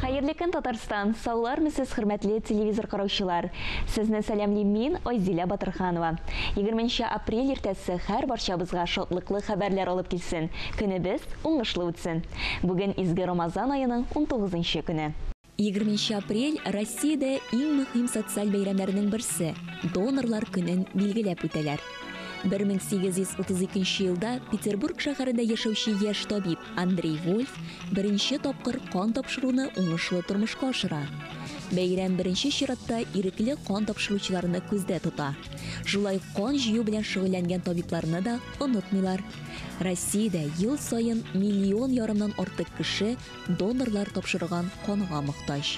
Хәерле көн Татарстан! Саулармы сез хөрмәтле телевизор караучылар! Сезне сәламлим мин, Айзилә Батырханова. 20 нче апрель иртәсе хәр барчабызга шатлыклы хәбәрләр алып килсен, көнебез уңышлы үтсен! Бүген изге Рамазан аеның 19 нчы көне. 20 нче апрель Россиядә иң мөһим социаль бәйрәмнәрнең берсе, донорлар көнен билгеләп үтәләр. 1832 нче елда Петербург шәһәрендә яшәүче яшь табиб, Андрей Вольф беренче тапкыр кан тапшыруны уңышлы тормышка ашыра. Бәйрәм беренче чиратта ирекле кан тапшыручыларны күздә тота. Шулай ук кан җыю белән шөгыльләнгән табибларны да онытмыйлар. Россиядә ел саен миллион ярымнан артык кеше донорлар тапшырган канга мохтаҗ.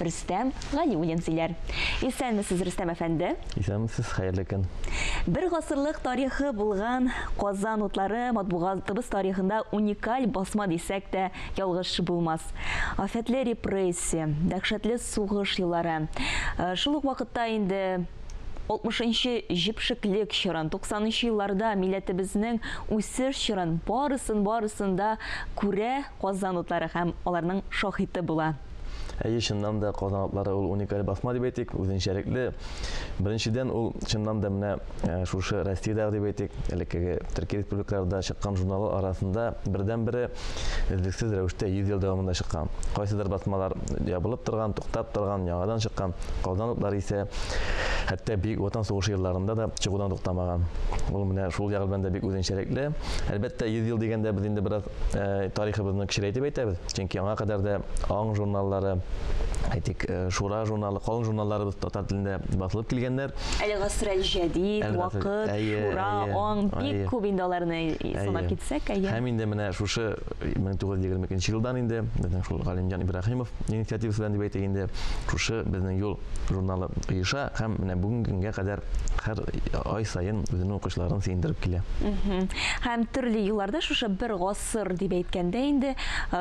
Рөстәм Галиуллин сөйләр. Исәнмесез, Рөстәм әфәнде! Исәнмесез, хәерле көн! Бер гасырлык тарихы булган Казан утлары матбугатыбыз тарихында уникаль басма дисәк тә ялгыш булмас. Афәтле репрессия, дәһшәтле сугыш еллары, шул ук вакытта инде 60 нчы җепшеклек чорын, 90 нчы елларда милләтебезнең үсеш чорын, барысын-барысын да күрә, Казан утлары һәм аларның шаһиты була. Әйе, чыннан да, Казан утлары ул уникаль басма дип әйтик, үзенчәлекле. Беренчедән, ул чыннан да менә шушы Россиядәге дип әйтик, элеккеге төрки республикаларда чыккан журналлар арасында бердәнбере өзлексез рәвештә 100 ел дәвамында чыккан. Кайсыдыр басмалар ябылып торган, туктап торган, яңадан чыккан, Казан утлары исә хәтта Бөек Ватан сугышы елларында да чыгудан туктамаган. Ул менә шул ягы белән дә бик үзенчәлекле. Әлбәттә, 100 ел дигәндә без инде бераз э, тарихыбызны кечерәйтеп әйтәбез, чөнки аңа кадәр дә аң журналлары әйтик, э, шура журналы, калын журналларыбыз татар телендә басылып килгәннәр. Әле гасрәл җәдид, вакыт, шура, аң, бик күп инде аларны санап китсәк, әйе. Һәм инде менә шушы 1922 елдан инде безнең шул Галимҗан Ибраһимов инициативасы белән дип әйтик инде, шушы безнең юл журналы оеша һәм менә бүгенгә кадәр һәр ай саен үзенең укучыларын сөендереп килә. Һәм төрле елларда шушы бер гасыр дип әйткәндә инде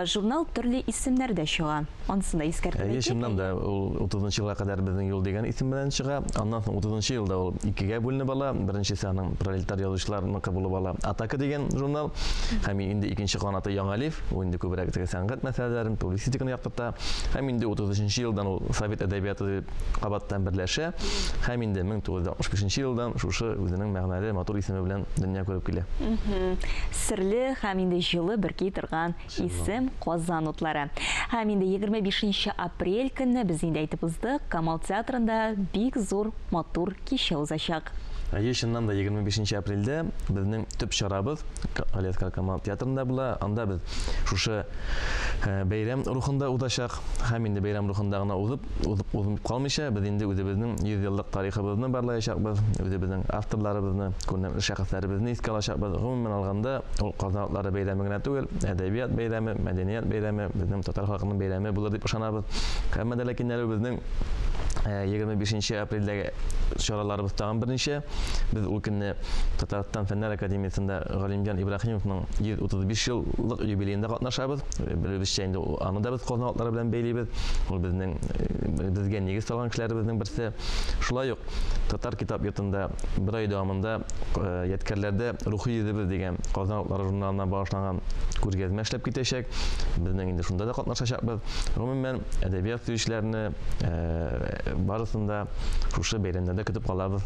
журнал төрле исемнәрдә чыга. Ансын да искәртеп әйтик. Әйе, чыннан да ул 30 елга кадәр безнең юл дигән исем белән чыга. Аннан соң 30 елда ул икегә бүленеп ала. Беренчесе аның пролетар язучыларныкы булып ала. Атака дигән журнал һәм инде икенче канаты Яңа лиф. Ул инде күбрәк теге сәнгать мәсьәләләрен, публицистиканы яктырта. Һәм инде 33 елдан ул Совет әдәбияты кабаттан берләшә һәм инде 1965 елдан шушы үзенең мәгънәле матур исеме белән дөнья күреп килә. Серле һәм инде җылы бөрки торган исем Казан утлары. Һәм инде 25 апрель көнне без инде әйтеп уздык, Камал театрында бик зур матур кичә узачак. Әйе, чыннан да 25 апрельдә безнең төп чарабыз Галиәскар Камал театрында була. Анда без шушы э, бәйрәм рухында узачак. Һәм инде бәйрәм рухында гына узып, узып, узынып калмыйча, без инде үзебезнең 100 еллык тарихыбызны барлаячакбыз, үзебезнең авторларыбызны, күренекле шәхесләребезне искә алачакбыз. Гомумән алганда, ул Казан атлары бәйрәме генә түгел, әдәбият бәйрәме, мәдәният бәйрәме, безнең татар халкының бәйрәме булыр дип ышанабыз. Һәммә дә ләкин әле безнең 25 нче апрельдәге чараларыбыз тагын берничә. Без ул көнне Татарстан Фәннәр академиясендә Галимҗан Ибраһимовның 135 еллык юбилеенда катнашабыз. Белүебезчә инде аны да без Казан атлары белән бәйлибез. Ул безнең э, безгә нигез салган кешеләребезнең берсе. Шулай ук татар китап йортында бер ай дәвамында э, ядкәрләрдә рухи йөзебез дигән Казан атлары журналына багышланган күргәзмә эшләп китәчәк. Безнең инде шунда да катнашачакбыз. Гомумән, әдәбият сөючеләрне э, барысын да шушы бәйрәмнәрдә көтеп калабыз.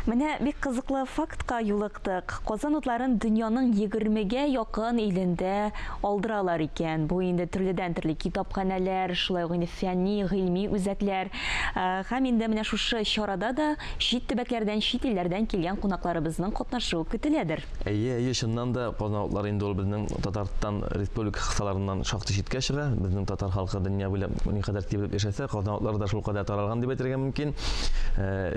Менә бик кызыклы фактка юлыктык. Казан утларын дөньяның егермегә якын илендә алдыралар икән. Бу инде төрледән-төрле китапханәләр, шулай ук инде фәнни, гыйльми үзәкләр. Һәм инде менә шушы чарада да чит төбәкләрдән, чит илләрдән килгән кунакларыбызның катнашуы көтеләдер. Әйе, әйе, чыннан да Казан утлары инде ул безнең Татарстан Республика кысаларыннан шактый читкә чыга. Безнең татар халкы дөнья буйлап никадәр тибрәп яшәсә, Казан утлары да шулкадәр таралган дип әйтергә мөмкин.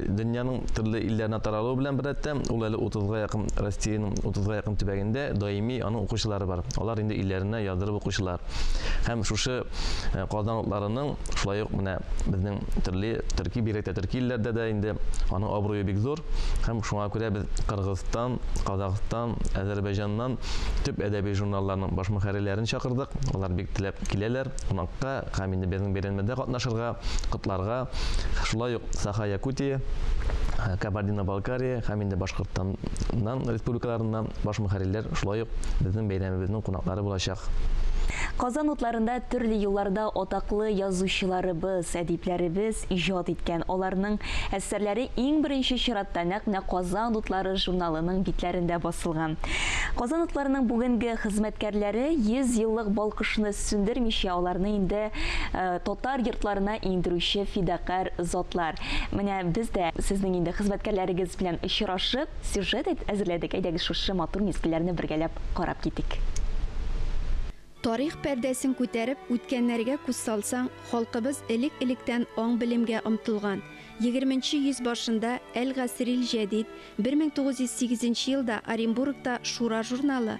Дөньяның төрле илләренә таралуы белән беррәттән, ул әле утызга якын Россиянең утызга якын төбәгендә даими аның укучылары бар. Алар инде илләренә яздырып укучылар. Һәм шушы Казан утларының, шулай ук менә безнең төрле төрки, бигрәк тә төрки илләрдә дә инде аның абруе бик зур. Һәм шуңа күрә без Кыргызстан, Казакъстан, Әзәрбәйҗаннан төп әдәби журналларның баш мөхәррирләрен чакырдык. Алар бик теләп киләләр кунакка. Һәм инде безнең бәйрәнмәдә катнашырга, котларга, шулай ук Саха-Якутия, Кабардино-Балкария һәм инде Башкортстаннан республикаларыннан баш мөхәррирләр шулай ук безнең бәйрәмебезнең кунаклары булачак. Казан утларында төрле елларда атаклы язучыларыбыз, әдипләребез иҗат иткән, аларның әссәрләре иң беренче чиратта нәкъ менә Казан утлары журналының битләрендә басылган. Казан утларының бүгенге хезмәткәрләре 100 еллык балкышны Сүндермичә аларны инде татар йортларына иңдерүче фидакарь затлар. Менә без дә сезнең инде хезмәткәрләрегез белән очрашып, сюжет әзерләдек. Әйдәгез шушы матур мизгелләрне бергәләп карап китик. Тарих пәрдәсен күтәреп, үткәннәргә күз салсаң, халкыбыз элек-электән аң-белемгә омтылган. Егерменче йөз башында Әл-Гасрил-Җәдид, бер мең тугыз йөз сигезенче елда Оренбургта Шура журналы,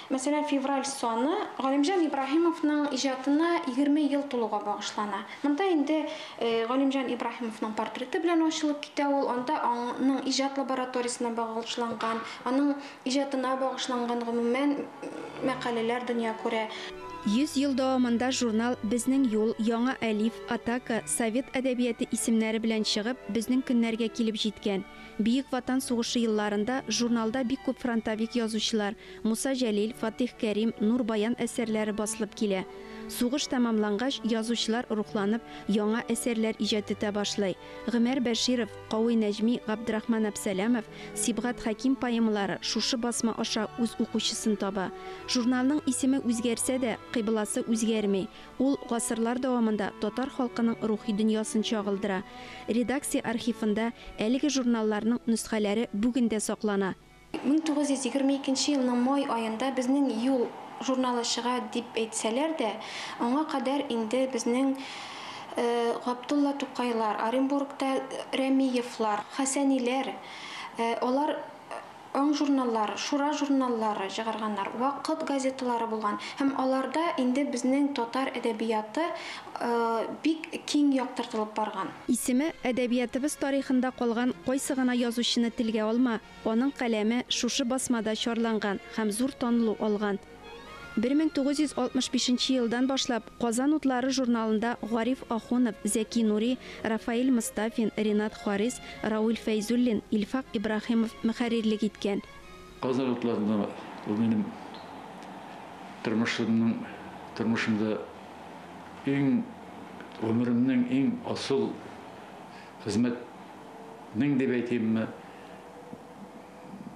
Мәсәлән, февраль саны Галимҗан Ибраһимовның иҗатына егерме ел тулуга багышлана. Монда инде Галимҗан Ибраһимовның портреты белән ачылып китә ул, анда аның иҗат лабораториясенә багышланган, аның иҗатына багышланган гомумән мәкаләләр дөнья күрә. Йөз ел дәвамында журнал Безнең юл, Яңа әлиф, Атака, Совет әдәбияты исемнәре белән чыгып, безнең көннәргә килеп җиткән. Бөек Ватан сугышы елларында журналда бик күп фронтовик язучылар, Муса Җәлил, Фатыйх Кәрим, Нур Баян әсәрләре басылып килә. Сугыш тәмамлангач, язучылар рухланып, яңа әсәрләр иҗат итә башлый. Гомәр Бәширов, Кави Нәҗми, Габдрахман Әпсәләмов, Сибгат Хәким поэмалары шушы басма аша үз укучысын таба. Журналның исеме үзгәрсә дә, кыйбласы үзгәрми. Ул гасырлар дәвамында татар халкының рухи дөньясын чагылдыра. Редакция архивында әлеге журналларның нөсхәләре бүген дә саклана. Мең тугыз йөз егерме икенче елның май аенда безнең Юл журналы чыга дип әйтсәләр дә, аңа кадәр инде безнең Габдулла Тукайлар, Оренбургта Рәмиевлар, Хәсәниләр, алар аң журналлары, Шура журналлары чыгарганнар, Вакыт газеталары булган һәм аларда инде безнең татар әдәбияты бик киң яктыртылып барган. Исеме әдәбиятыбыз тарихында калган кайсы гына язучыны телгә алма, аның каләме шушы басмада чарланган һәм зур танылу алган. Бер мең тугыз йөз алтмыш бишенче елдан башлап Казан утлары журналында Гариф Ахунов, Зәки Нури, Рафаэль Мостафин, Ренат Харис, Рауль Фәйзуллин, Илфак Ибраһимов мөхәррирлек иткән. Казан атласында ул минем тормышымның, тормышымда иң, гомеремнең иң асыл хезмәтнең дип әйтимме,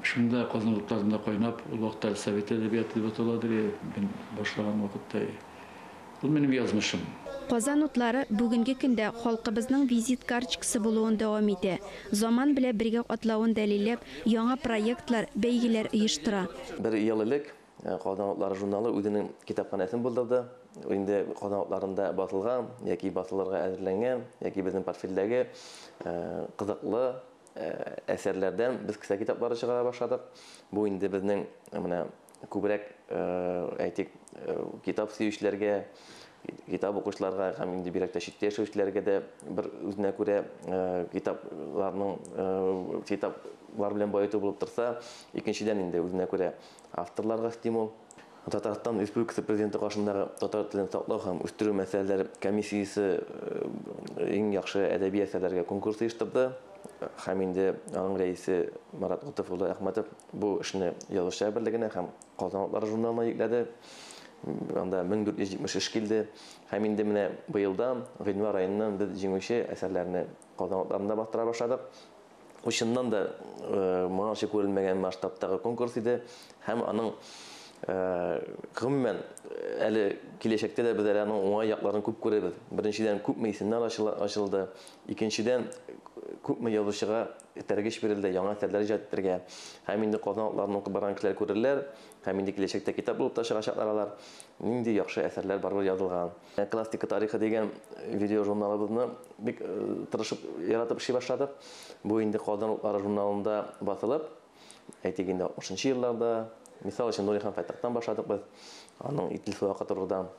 шунда Казан атласында кайнап, ул вакытта совет әдәбияты дип атала иде, мин башлаган вакытта, Ул минем язмышым. Казан утлары бүгенге көндә халкыбызның визит карчкасы булуын дәвам итә, заман белә бергә атлавын дәлилләп, яңа проектлар, бәйгеләр оештыра. Бер ел элек Казан утлары журналы үзенең китапханәсен булдырды. Ул инде Казан утларында басылган яки басылырга әзерләнгән, яки безнең портфельдәге кызыклы әсәрләрдән без кесә китаплары чыгара башладык. Бу инде безнең менә күбрәк, әйтик, китап сөючеләргә, китап укучыларга һәм инде бигрәк тә читтә яшәүчеләргә дә бер үзенә күрә китапларның китаплар белән баету булып торса, икенчедән инде үзенә күрә авторларга стимул. Татарстан Республикасы Президенты каршындагы татар телен саклау һәм үстерү мәсьәләләре комиссиясе иң яхшы әдәби әсәрләргә конкурс оештырды. һәм инде аның рәисе Марат Готов улы Әхмәтов бу эшне язучылар берлегенә һәм Казан атлары журналына йөкләде. Анда 1470 эш килде. Һәм инде менә быелдан, гыйнвар аеннан без җиңүче әсәрләрне Казан атларында бастыра башладык. Бу чыннан да э, моңарчы күрелмәгән масштабтагы конкурс иде һәм аның э, гомумән әле киләчәктә дә без әле аның уңай якларын күп күрәбез. Беренчедән, күпме исемнәр ачылды. Икенчедән, күпме язучыга этәргеч бирелде, яңа әсәрләр иҗат итәргә. Һәм инде Казан атларын укып барган кешеләр күрерләр, һәм инде киләчәктә китап булып та чыгачаклар алар, нинди яхшы әсәрләр барыбер язылган. Классика тарихы дигән видеожурналыбызны бик тырышып, яратып эшли башладык. Бу инде Казан утлары журналында басылып, әйтик инде, 60 нчы елларда, мисал өчен, Нури хан Фәттахтан башладык без, аның Итил сулакы турыдан,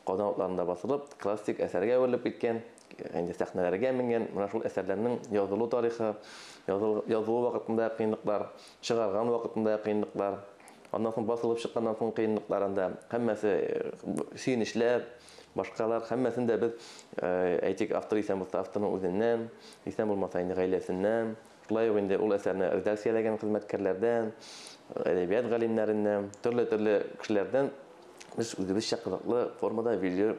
Казан утларында басылып, классик әсәргә әверелеп киткән. инде сәхнәләргә менгән, менә шул әсәрләрнең язылу тарихы, язылу вакытында кыенлыклар, чыгарган вакытында кыенлыклар, аннан соң басылып чыкканнан соң кыенлыкларында һәммәсе сөенечләр, башкалар һәммәсен дә без әйтик автор исән булса авторның үзеннән, исән булмаса инде гаиләсеннән, шулай ук инде ул әсәрне редакцияләгән хезмәткәрләрдән, әдәбият галимнәреннән, төрле-төрле кешеләрдән без үзебезчә кызыклы формада видео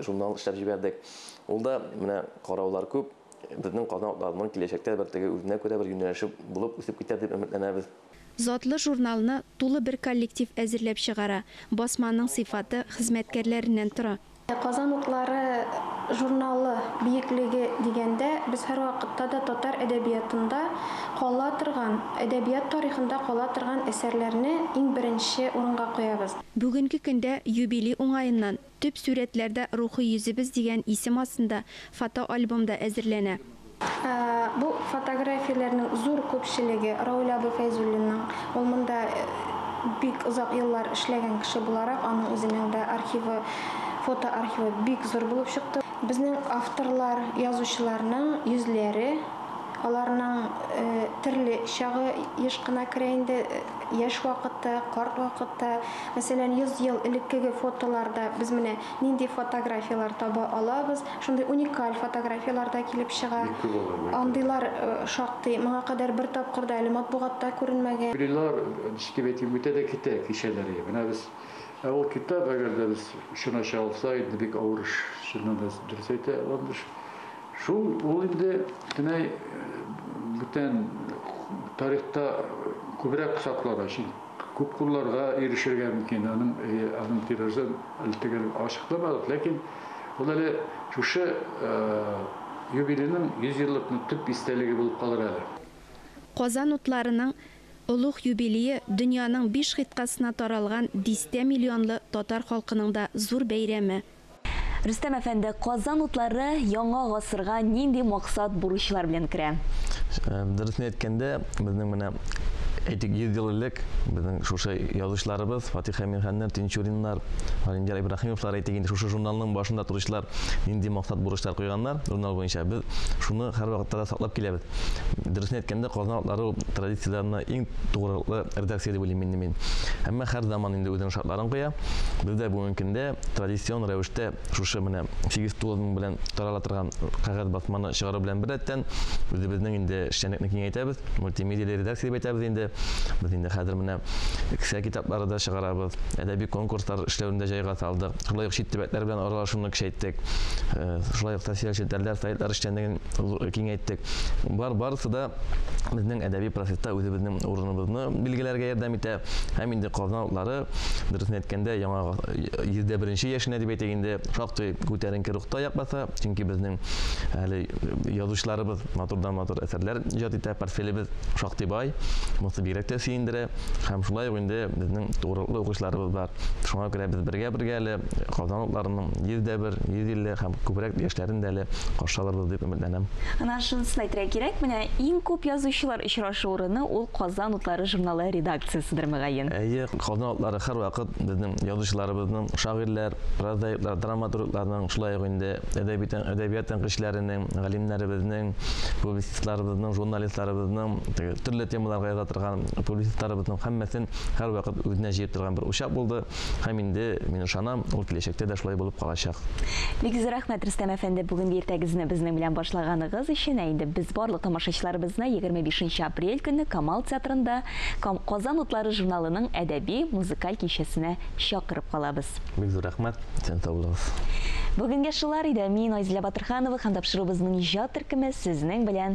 журнал эшләп җибәрдек. Ул да менә караулар күп, безнең Казан атларының киләчәктә бер теге үзенә күрә бер юнәлеше булып үсеп китәр дип өметләнәбез. Затлы журналны тулы бер коллектив әзерләп чыгара. Басманың сыйфаты хезмәткәрләреннән тора. Казан утлары журналы биеклеге дигәндә, без һәрвакытта да татар әдәбиятында кала торган, әдәбият тарихында кала торган әсәрләрне иң беренче урынга куябыз. Бүгенге көндә юбилей уңаеннан Төп сурәтләрдә Рухи йөзебез дигән исем астында фотоальбом да әзерләнә. Бу фотографияләрнең зур күпчелеге, Равил абый Фәйзуллинның. Ул монда бик озак еллар эшләгән кеше буларак, аның үзенең дә архивы, фотоархивы бик зур булып чыкты. Безнең авторлар, язучыларның йөзләре, аларның төрле чагы еш кына керә инде. Яшь вакытта, карт вакытта, мәсәлән, 100 ел элеккеге фотоларда без менә нинди фотографияләр таба алабыз, шундый уникаль фотографияләр дә килеп чыга. Бик күп алар, бик күп. Андыйлар шактый, моңа кадәр бер тапкыр да әле матбугатта күренмәгән. Юбилейлар, ничек дип әйтим, үтә дә китә кичәләре. Менә без, ә ул китап, әгәр дә без чын ача алса, инде бик авыр эш, чыннан да, дөрес әйтә Ландыш. Шул ул инде бөтенләй бүтән тарихта күбрәк саклана, чөнки күп кулларга ирешергә мөмкин. Аның аның тиражы әле төгәл ачыкламадык, ләкин ул әле шушы юбилейның 100 еллыкның төп истәлеге булып калыр әле. Казан утларының олуг юбилее дөньяның биш гыйтькасына таралган дистә миллионлы татар халкының да зур бәйрәме, Рөстәм әфәнде, Казан утлары яңа гасырга нинди максат, бурычлар белән керә? Дөресен әйткәндә, безнең менә, әйтик, 100 ел элек безнең шушы язучыларыбыз, Фатих Әмирханнар, Тинчуриннар, Галимҗан Ибраһимовлар, әйтик инде, шушы журналның башында торучылар нинди максат, бурычлар куйганнар журнал буенча, без шуны һәрвакытта да саклап киләбез. Дөресен әйткәндә, Казан утлары ул традицияләренә иң тугрылыклы редакция дип уйлыйм инде мин. Әмма һәр заман инде үзенең шартларын куя. Без дә бүгенге көндә, традицион рәвештә шушы менә 8-9 мең белән тарала торган кәгазь басманы чыгару белән беррәттән үзебезнең инде эшчәнлекне киңәйтәбез, мультимедиале редакция дип әйтәбез инде. Без инде хәзер менә кесә китаплары да чыгарабыз, әдәби конкурслар эшләвен дә җайга салдык. Шулай ук чит төбәкләр белән аралашуны көчәйттек. Э, шулай ук социаль челтәрләр, сайтлар эшчәнлеген киңәйттек. Бар барысы да безнең әдәби процесста үзебезнең урыныбызны билгеләргә ярдәм итә һәм инде Казан утлары Дөресен әйткәндә, яңа 101 яшенә дип әйтик инде, шактый күтәренке рухта якбаса, чөнки безнең әле язучыларыбыз матурдан матур әсәрләр иҗат итә, портфелебез шактый бай, монысы бигрәк тә сөендерә. Һәм шулай ук инде безнең тугрылыклы укучыларыбыз бар. Шуңа күрә без бергә-бергә әле Казан утларының 101, 150 һәм күбрәк яшьләрен дә әле каршы алырбыз дип өметләнәм. Аннан шунысын әйтергә кирәк, менә иң күп язучылар очраша. Шоурыны ул Казан утлары журналы редакцияседер мөгаен. Әйе, Казан утлары һәрвакыт безнең язучыларыбызның, шагыйрьләр, прозаиклар, драматургларның, шулай ук инде әдәби тән, әдәбият тәнкыйтьчеләренең, галимнәребезнең, публицистларыбызның, журналистларыбызның, теге төрле темаларга яза торган публицистларыбызның һәммәсен һәрвакыт үзенә җыеп торган бер учак булды. Һәм инде, мин ышанам, ул киләчәктә дә шулай булып калачак. Бик зур рәхмәт, Рөстәм әфәнде, бүгенге иртәгезне безнең белән башлаганыгыз өчен. Ә инде без барлык тамашачыларыбызны 25 нче апрель көнне Камал театрында Казан утлары журналының әдәби, музыкаль кичәсенә чакырып калабыз. Бик зур рәхмәт, исән сау булыгыз. Бүгенгә шулар иде. Мин, Айзилә Батырханова һәм тапшыруыбызның иҗат төркеме сезнең белән